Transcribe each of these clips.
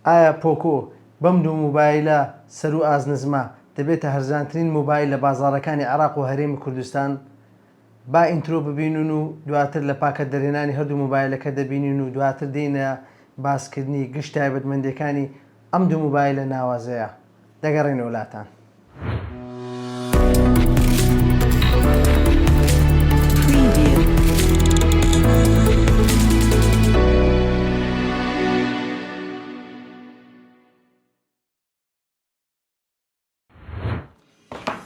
ئایا پۆکۆ بەم دوو موبایلە سەروو ئازنزمە دەبێتە هەرزانترین موبایل لە بازاڕەکانی عێراق و هەرێمی کوردستان؟ با ئینترۆ ببینن و دواتر لە پاکەت دەرهێنانی هەردوو موبایلەکە دەبینین و دواتر دێینە باسکردنی گشت تایبەتمەندیەکانی ئەم دوو موبایلە ناوازەیە. دەگەڕێنەوە لاتان.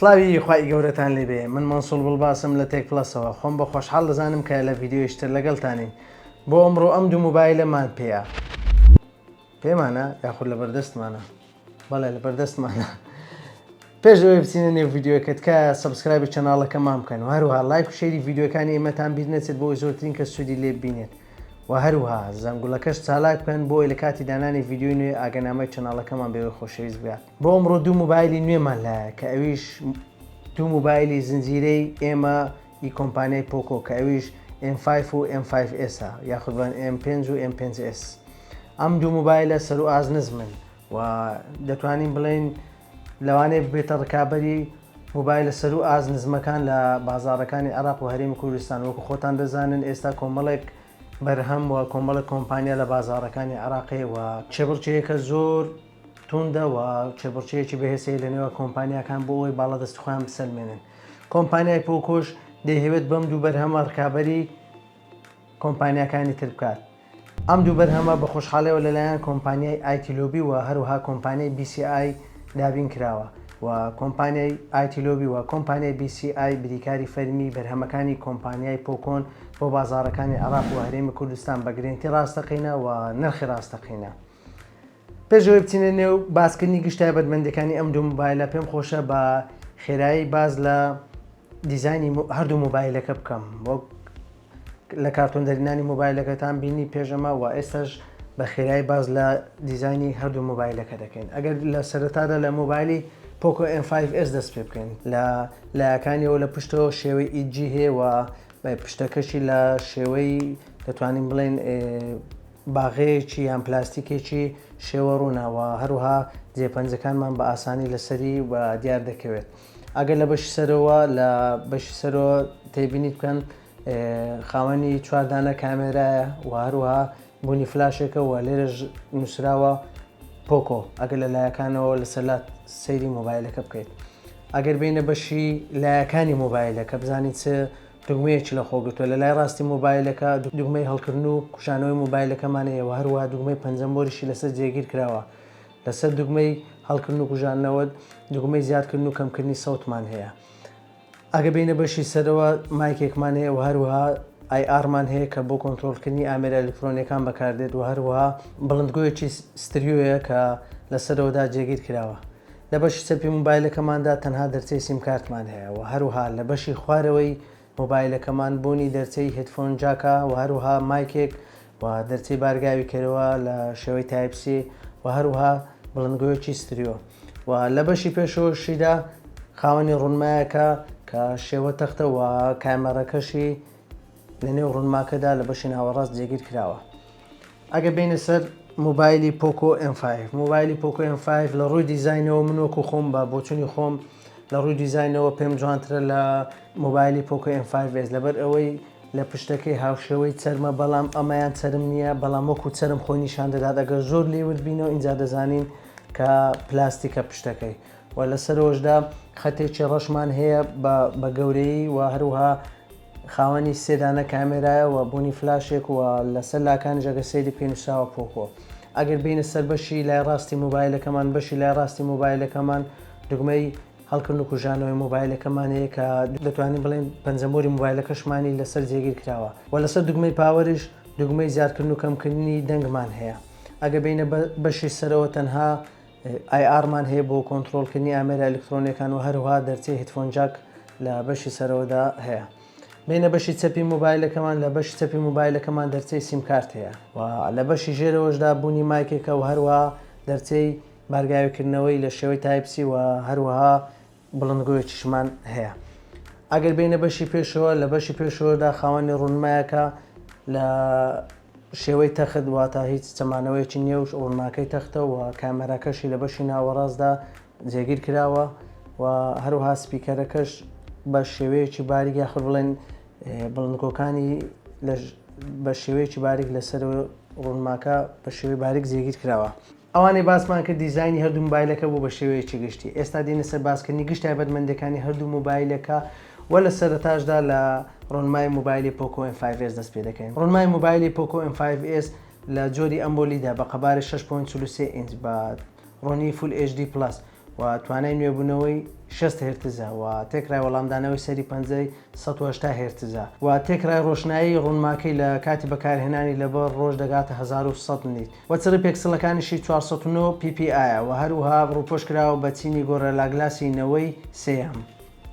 سڵاوی خی گەورەتان لێبێ من مەسول بڵباسم لە تێک پلسەوە خۆم بە خۆشحاڵ دەزانم کە لە یددیوشتر لەگەڵتانین بۆ ئەمڕۆ ئەم دوو موبایلەمان پێەیە پێمانە یاخود لە بەردەستمانە بەڵێ لە بەردەستمانە پێش ئەوەی بچینە نێو ڤیددیوەکە تکایە سبسکرایبی چەناڵەکەمان بکەن و هەروها لایک و شێری ڤیددیوەکانی ئێمەتان بیر نەچێت بۆی زۆرترین کە سوودی لێ بینێت و هەروها زەنگولەکەش چالاک بکەن بۆی لە کاتی دانانی ڤیددیوی نوێ ئاگەنامەی چەناڵەکەمان بێوەی خۆشەویست بگات بۆ ئەمڕۆ دوو موبایلی نوێمان لایە کە ئەویش دوو موبایلی زنجیرەی ئێمە ی کۆمپانیای پۆکۆ کە ئەویش ئێم فایڤ و ئێم فایڤ ئێسە یاخود بڵێن ئێم پێنج و ئێم پێنج ئێس ئەم دوو موبایلە سەرو ئاست نزمن و دەتوانین بڵێین لەوانەیە ببێتە ڕکابەری موبایلە سەرو ئاست نزمەکان لە بازاڕەکانی عێراق و هەرێمی کوردستان وەکو خۆتان دەزانن ئێستا کۆمەڵێک بەرهەم و کۆمەڵێک کۆمپانیا لە بازاڕەکانی عێراقێ و کێبڕکێیەکە زۆر توندە و کێبڕکێیەکی بەهێزەیە لە نێوان کۆمپانیاکان بۆ ئەوەی باڵادەستی خۆیان بسەلمێنن کۆمپانیای پۆکۆش دەیهەوێت بەم دوو بەرهەمە ڕکابەری کۆمپانیاکانی تر بکات ئەم دوو بەرهەمە بە خۆشحاڵەوە لەلایەن کۆمپانیای ئایتیلۆبی و هەروها کۆمپانیای BCI دابین کراوە و کۆمپانیای ئایتیلۆبی و کۆمپانیای BCI بریکاری فەرمی بەرهەمەکانی کۆمپانیای پۆکۆن بۆ بازارەکانی عراق و هەرێمی کوردستان بە گرنتی ڕاستەقینە و نرخی ڕاستەقینە پێش ئەوەی بچینە نێو باسکردنی گشت تایبەتمەندەکانی ئەم دوو موبایلە پێم خۆشە بە خێرایی باز لە دیزانی هەردوو موبایلەکە بکەم وەک لە کارتۆن دەرینانی موبایلەکەتان بینی پێشەمە و ئێستاش بە خێرایی باز لە دیزانی هەردوو موبایلەکە دەکەین ئەگەر لە سەرەتادا لە موبایلی پۆکۆ M5S دەست پێ بکەین لە لایەکانیەوە لە پشتەوە شێوەی ئیجی هەیە و پشتەکەشی لە شێوەی دەتوانین بڵێن باغەیەکی یان پلاستیکێکی شێوە ڕوونە و هەروەها جێ پەنجەکانمان بە ئاسانی لەسەری و دیار دەکەوێت ئەگەر لە بەشی سەرەوە لە بەشی سەرەوە تێبینی بکەن خاوەنی چواردانە کامێرایە و هەروەها بوونی فلاشێکە و لێرەش نووسراوە پۆکۆ ئەگەر لە لایەکانەوە لەسەلات سەیری مۆبایلەکە بکەیت ئەگەر بینە بەشی لایەکانی مۆبایلەکە بزانیت چ دوگمەیەکی لەخۆگرتووە، لە لای ڕاستی مۆبایلەکە دوگمەی هەڵکردن و کشانەوەی مۆبایلەکەمان هەیە و هەروەها دوگمەی پەنجەم بۆریشی لەسەر جێگیر کراوە، لەسەر دوگمەی هەڵکردن و کوژاندنەوە دوگمەی زیادکردن و کەمکردنی سەوتمان هەیە. ئەگە بێینە بەشی سەرەوە مایکێکمان هەیە و هەروەها ئای ئاڕمان هەیە کە بۆ کۆنترۆڵکردنی ئامێرە ئەلیکترۆنیەکان بەکاردێت و هەروەها بڵندگۆیەکی ستریۆیە کە لە سەرەوەدا جێگیر کراوە. لە بەشی چەپی مۆبایلەکەماندا تەنها دەرچەی سیمکارتمان هەیە و هەروەها لە بەشی خوارەوەی مۆبایلەکەمان بۆنی دەرچەی هێدفۆن جاکە و هەروەها مایکێک و دەرچەی بارگاوی کەرەوە لە شێوەی تایپ سی و هەروەها بڵندگۆیەکی ستریۆ و لە بەشی پێشەوەشیدا خاوەنی ڕونمایەکە کە شێوە تەختە و کامێڕەکەشی لە نێو ڕونماکەدا لە بەشی ناوەڕاست جێگیر کراوە. ئەگەر بێینە سەر موبایلی پۆکۆ M5 موبایلی پۆکۆ M5 لە ڕووی دیزینەوە من وەکو خۆم بە بۆچونی خۆم لە ڕووی دیزینەوە پێم جوانترە لە موبایلی پۆکۆ M5 S لەبەر ئەوەی لە پشتەکەی هاوشێوەی چەرمە بەڵام ئەمەیان چەرم نییە بەڵام وەکو چەرم خۆی نیشان دەدات ئەگەر زۆر لێ ورد بینەوە ئینجا دەزانین کە پلاستیکە پشتەکەی و لەسەرەوەشدا خەتێکی ڕەشمان هەیە بە گەورەی و هەروها خاوەنی سێ دانە کامێرایە و بۆنی فلاشێک و لەسەر لاکانیش ئەگەر سەیری بکەی نوسراوە پۆکۆ ئەگەر بێینە سەر بەشی لای ڕاستی مۆبایلەکەمان بەشی لای ڕاستی مۆبایلەکەمان دوگمەی هەڵکردن و کوژانەوەی مۆبایلەکەمان هەیە کە دەتوانین بڵێین پەنجەمۆری مۆبایلەکەشمانی لەسەر جێگیر کراوە وە لەسەر دوگمەی پاوەریش دوگمەی زیادکردن و کەمکردنی دەنگمان هەیە ئەگەر بێینە بەشی سەرەوە تەنها IR، مان هەیە بۆ کۆنتڕۆڵکردنی ئامێرە ئەلیکترۆنیەکان و هەروەها دەرچەی هیدفۆن جاک لە بەشی سەرەوەدا هەیە. بێینە بەشی چەپی مۆبایلەکەمان، لە بەشی چەپی مۆبایلەکەمان دەرچەی سیم کارت هەیە و لە بەشی ژێرەوەشدا بوونی مایکێکە و هەروەها دەرچەی بارگاویکردنەوەی لە شێوەی تایپ سی و هەروەها بڵندگۆیەکیشمان هەیە ئەگەر بێینە بەشی پێشەوە لە بەشی پێشەوەدا خاوەنی ڕوونمایەکە لە شێوەی تەخت واتە هیچ چەمانەوەیەکی نێوش ڕوونماکەی تەختەوە کامەراکەشی لە بەشی ناوەڕاستدا جێگیر کراوە و هەروها سپیکەرەکەش بە شێوەیەکی باریک یاخود بڵێن بڵندگۆکانی بە شێوەیەکی باریک لەسەر ڕوونماکە بە شێوەی باریک جێگیر کراوە ئەوانەی باسمان کرد دیزاینی هەردوو مۆبایلەکە بوو بە شێوەیەکی گشتی. ئێستا دێینە سەر باسکردنی گشت تایبەتمەندیەکانی هەردوو مۆبایلەکە و لە سەرەتاشدا لە ڕۆنمای مۆبایلی پۆکۆ ئێم فایڤ ئێس دەست پێ دەکەین. ڕۆنمای مۆبایلی پۆکۆ ئێم فایڤ ئێس لە جۆری ئەمۆلیدە بە قەبارەی شەش پۆینت چل و سێ ئینچ بە ڕوونی فول ئێچ دی پڵەس، و توانای نوێبوونەوەی شەست هێرتزە و تێکرای وەڵامدانەوەی سەری پەنجەی سەد و هەشتا هێرتزە و تێکرای ڕۆشنایی ڕوونماکەی لە کاتی بەکارهێنانی لەبەر ڕۆژ دەگاتە هەزار و سەد نیت و چڕی پێکسڵەکانیشی چوار سەد و نۆ ppi ە و هەروەها ڕووپۆش کراوە بە چینی گۆرێلاگلاسی نەوەی سێیەم.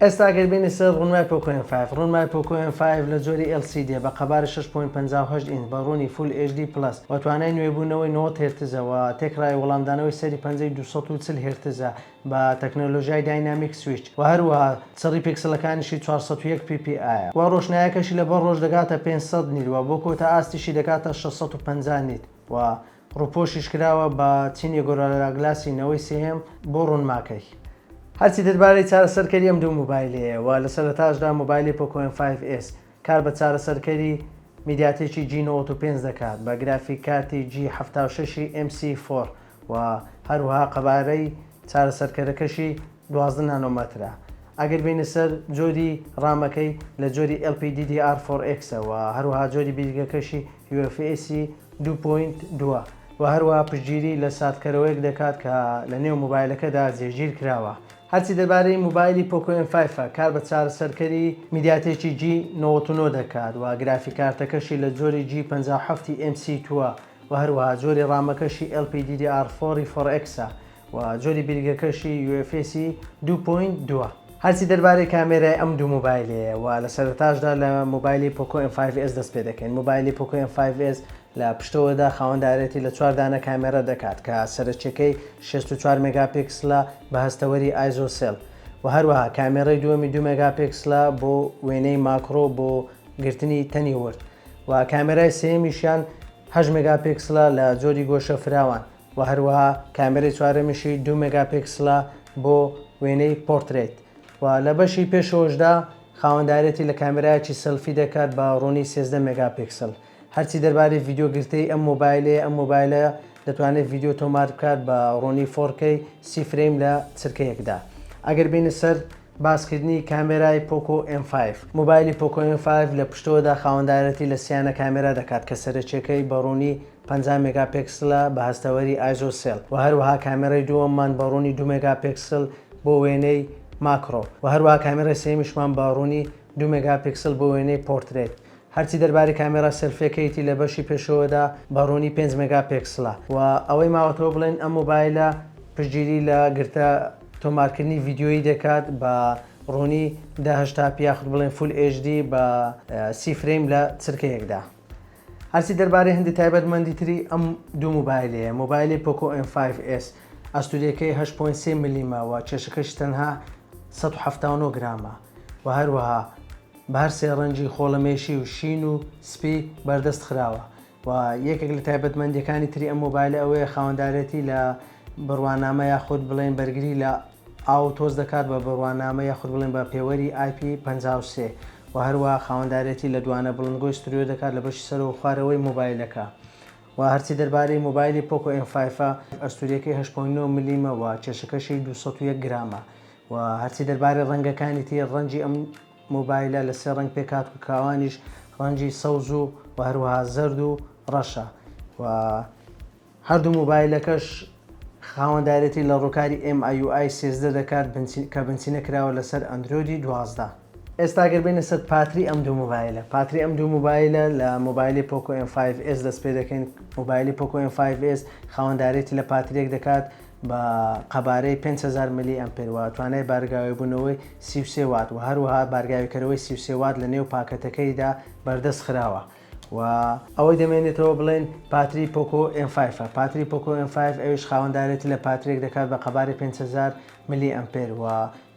ئێستا ئەگەر بێینە سەر ڕوونمای پۆکۆ ئێم فایڤ، ڕوونمای پۆکۆ ئێم فایڤ لە جۆری ئێل سی دێ بە قەبارە شەش پۆینت پەنجا و هەشت ئینج بە ڕوونی فول ئێچ دی پڵەس و توانای نوێبوونەوەی نەوەد هێرتزە و تێکڕای وەڵامدانەوەی سەری پەنجەی دوو سەد و چل هێرتزە بە تەکنەلۆژیای داینامیک سویچ و هەروەها چڕی پیکسلەکانیشی چوار سەد و یەک پی پی ئایە و ڕۆشنایەکەشی لەبەر ڕۆژ دەگاتە پێنج سەد نیت و بۆ کۆتا ئاستیشی دەگاتە شەش سەد و پەنجا نیت و ڕووپۆشیش کراوە بە چینی گۆرالراگلاسی نەوەی سێیەم بۆ ڕوونماکەی. هەرچی دەربارەی چارەسەرکەری ئەم دوو مۆبایلەیە و لە سەرەتاشدا مۆبایلی پۆکۆ ئێم فایڤ ئێس کار بە چارەسەرکەری میدیاتێکی جی نەوەد و پێنج دەکات بە گرافیک کارتی جی حەفتا و شەش ی ئێم سی فۆر و هەروەها قەبارەی چارەسەرکەرەکەشی دوازدە نانۆمەترە ئەگەر بێینە سەر جۆری ڕامەکەی لە جۆری LPDDR فۆر ئێکسە وە هەروەها جۆری بیرگەکەشی UFS دوو پۆینت دووە وە هەروەها پشتگیری لە ساردکەرەوەیەک دەکات کە لە نێو موبایلەکەدا جێگیر کراوە. هەرچی دەربارەی موبایلی پۆکۆ ئێم فایفە کار بە چارەسەرکەری میدیاتێکی جی نەوەد و نۆ دەکات وە گرافیک کارتەکەشی لە جۆری جی پەنجا و حەفت ی ئێم سی تووە وە هەروەها جۆری ڕامەکەشی LPDDR فۆر ی فۆر ئێکسە و جۆری بیرگەکەشی UFS دوو پۆینت دووە. هەرچی دەربارەی کامێرای ئەم دوو مۆبایلەیە و لە سەرەتاشدا لە مۆبایلی پۆکۆ ئێم فایڤ ئێس دەست پێ دەکەین مۆبایلی پۆکۆ ئێم فایڤ ئێس لە پشتەوەدا خاوەندارێتی لە چوار دانە کامێرا دەکات کە سەرەکیەکەی شەست و چوار مێگاپیکسلە بە هەستەوەری ئایزۆ سێل و هەروەها کامێرای دووەمی دوو مێگاپیکسلە بۆ وێنەی ماکرۆ بۆ گرتنی تەنی ورد و کامێرای سێیەمیشیان هەشت مێگاپیکسلە لە جۆری گۆشە فراوان وە هەروەها کامێرەی چوارەمیشی دوو مێگا پیکسلە بۆ وێنەی پۆرترەیت و لە بەشی پێشەوەشدا خاوەندارێتی لە کامێرایەکی سێلفی دەکات بە ڕوونی سێزدە مێگا پیکسل هەرچی دەربارەی ڤیدیۆ گرتەی ئەم مۆبایلەیە ئەم مۆبایلە دەتوانێت ڤیدیۆ تۆمار بکات بە ڕوونی فۆر کەی سی فرەیم لە چرکە یەکدا ئەگەر بینە سەر باسکردنی کامێرای پۆکۆ ئێم فایڤ مۆبایلی پۆکۆ ئێم فایڤ لە پشتەوەدا خاوەندارێتی لە سیانە کامێرا دەکات کە سەرەکیەکەی بە ڕوونی پەنجا مێگا پێکسلە بە هەستەوەری ئایزۆسێل وە هەروەها کامێرەی دووەممان بە ڕوونی دوو مێگا پێکسل بۆ وێنەی ماکرۆ وە هەروەها کامێرەی سێیەمیشمان بە ڕوونی دوو مێگا پێکسل بۆ وێنەی پۆرترێت هەرچی دەربارەی کامێرا سێلفیەکەیتی لە بەشی پێشەوەدا بە ڕوونی پێنج مێگا پێکسلە وە ئەوەی ماوەتەوە بڵێن ئەم مۆبایلە پشتگیری لە گرتە تۆمارکردنی ڤیدیۆیی دەکات بە ڕوونی دە هەشتا پی یاخود بڵێن فول ئێچ دی بە سی فرەیم لە چرکەیەکدا. هەرچی دەربارەی هەندێ تایبەتمەندی تری ئەم دوو مۆبایلەیە، مۆبایلی پۆکۆ ئێم فایڤ ئێس ئەستوورەکەی هەشت پۆینت سێ ملمە و کێشەکەشی تەنها سەد و حەفتا و نۆ گرامە و هەروەها بە هەر سێ ڕەنگی خۆڵەمێشی و شین و سپی بەردەست خراوە و یەکێک لە تایبەتمەندییەکانی تری ئەم مۆبایلە ئەوەیە خاوەندارێتی لە بڕوانامە یاخود بڵێین بەرگری لە ئاو تۆز دەکات بە بڕوانامە یاخود بڵێن بە پێوەری IP پەنجا و سێ و هەروەها خاوەندارێتی لە دوانە بڵندگۆی ستریۆ دەکات لە بەشی سەرەوە و خوارەوەی مۆبایلەکە و هەرچی دەربارەی مۆبایلی پۆکۆ ئێم فایفە ئەستوریەکەی هەشت پۆینت نۆ ملیمە و کێشەکەشی دوو سەد و یەک گرامە و هەرچی دەربارەی ڕەنگەکانی تر ڕەنجی ئەم مۆبایلە لە سێ ڕەنگ پێکهات و کاوانیش ڕەنجی سەوز و هەروەها زەرد و ڕەشە و. هەردوو مۆبایلەکەش خاوەندارێتی لە ڕووکاری ئێم ئای یو ئای سێزدە دەکات کە بنچینە کراوە لەسەر ئەندرۆیدی دوازدە. ئێستا گەر بێینە سەر پاتری ئەم دوو مۆبایلە پاتری ئەم دوو مۆبایلە لە مۆبایلی پۆکۆ ئێم فایڤ ئێس دەست پێ دەکەین مۆبایلی پۆکۆ ئێم فایڤ ئێس خاوەندارێتی لە پاتریەک دەکات بە قەبارەی پێنج هەزار ملی ئەمپێر وە توانای بارگاوێ بوونەوەی سی و سێ وات وە هەروەها بارگاوێ کەرەوەی سی و سێ وات لە نێو پاکەتەکەیدا بەردەست خراوە و ئەوەی دەمێنێتەوە بڵێین پاتری پۆکۆ ئێم فایفە پاتری پۆکۆ ئێم فایف ئەویش خاوەندارێتی لە پاترێک دەکات بە قەبارەی پێنج هەزار ملی ئەمپێر و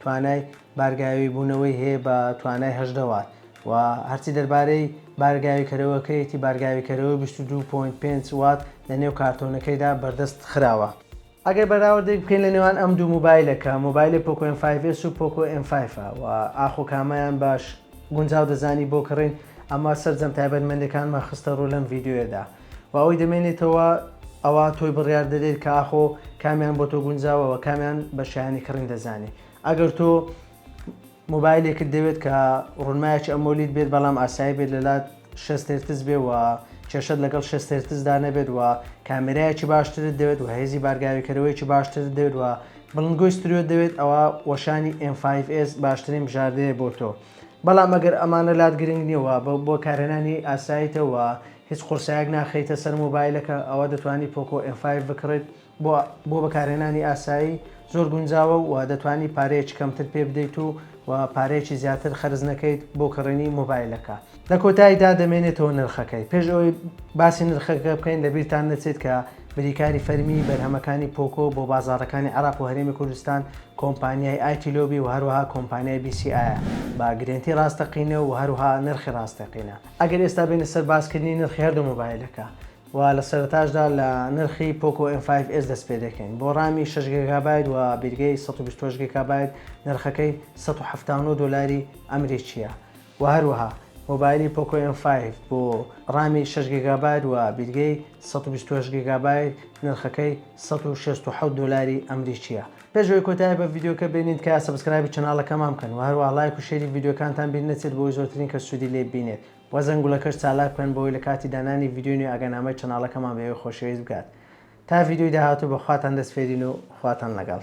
توانای بارگاوی بوونەوەی هەیە بە توانای هەژدە وات و هەرچی دەربارەی بارگاویکەرەوەکەیەتی بارگاویکەرەوەی بیست و دوو پۆینت پێنج وات لەنێو کارتۆنەکەیدا بەردەست خراوە. ئەگەر بەراوردێک بکەین لە نێوان ئەم دوو موبایلە کە موبایلێ پۆکۆ ئێم فایڤ ئێس و پۆکۆ ئێم فایڤ ە وە ئاخۆ کامەیان باش گونجاو دەزانی بۆ کڕین ئەمە سەرجەم تایبەتمەندەکانمان خستە ڕوو لەم ڤیدیۆیەدا وە ئەوەی دەمێنێتەوە ئەوە تۆی بڕیار دەدەیت کە ئاخۆ کامیان بۆ تۆ گونجاوە وە کامیان بە شایانی کڕین دەزانی ئەگەر تۆ مۆبایلێکت دەوێت کە ڕونمایەکی ئەمۆلید بێت بەڵام ئاسایی بێت لەلات شەست هێرتز بێ و کێشەت لەگەڵ شەست هێرتزدا نەبێت و کامێرایەکی باشترت دەوێت و هێزی بارگاویکەرەوەیەکی باشترت دەوێت و بڵندگۆی ستریۆت دەوێت ئەوا وەشانی ئێم فایڤ ئێس باشترین بژاردەیە بۆ تۆ بەڵام ئەگەر ئەمانە لات گرنگ نیە و بە بۆ کارهێنانی ئاسایتە و هیچ قورسایەک ناخەیتە سەر مۆبایلەکە ئەوا دەتوانی پۆکۆ ئێم فایڤ بکڕیت بۆ بەکارهێنانی ئاسایی زۆر گونجاوە و دەتوانیت پارەیەکی کەمتر پێ بدەیت و پارەیەکی زیاتر خەرج نەکەیت بۆ کڕینی مۆبایلەکە. لە کۆتاییدا دەمێنێتەوە نرخەکەی. پێش ئەوەی باسی نرخەکە بکەین لەبیرتان نەچێت کە بریکاری فەرمیی بەرهەمەکانی پۆکۆ بۆ بازاڕەکانی عێراق و هەرێمی کوردستان کۆمپانیای ئایتی لۆبی و هەروەها کۆمپانیای بی سی ئایە بە گرێنتی ڕاستەقینە و هەروەها نرخی ڕاستەقینە. ئەگەر ئێستا بێینە سەر باسکردنی نرخی هەردوو مۆبایلەکە و لە سەرەتاشدا لە نرخی پۆکۆ ئێم فایڤ ئێس دەست پێ دەکەین بۆ ڕامی شەش گێگابایت و بیرگەی سەد و بیست و هەشت گێگابایت نرخەکەی سەد و حەفتا و نۆ دۆلاری ئەمریکییە و هەروەها مۆبایلی پۆکۆ ئێم فایڤ بۆ ڕامی شەش گێگابایت و بیرگەی سەد و بیست و هەشت گێگابایت نرخەکەی سەد و شەست و حەوت دۆلاری ئەمریکییە پێش ئەوەی کۆتایی بە ڤیدیۆکە بێنین تکایە سەبسکرایبی چەناڵەکەمان بکەن و هەروەها ڵایک و شێری ڤیدیۆکانتان بیر نەچێت بۆ ئەوەی زۆرترین کەس سوودی لێ ببینێت وە زەنگولەکەش چالاک بکەن بۆوەی لە کاتی دانانی ڤیدیۆی نوێ ئاگانامەی چەناڵەکەمان بەئێوەی خۆشەویست بگات تا ڤیدیۆی داهاتوو بەخواتان دەسپێرین و خواتان لەگەڵ.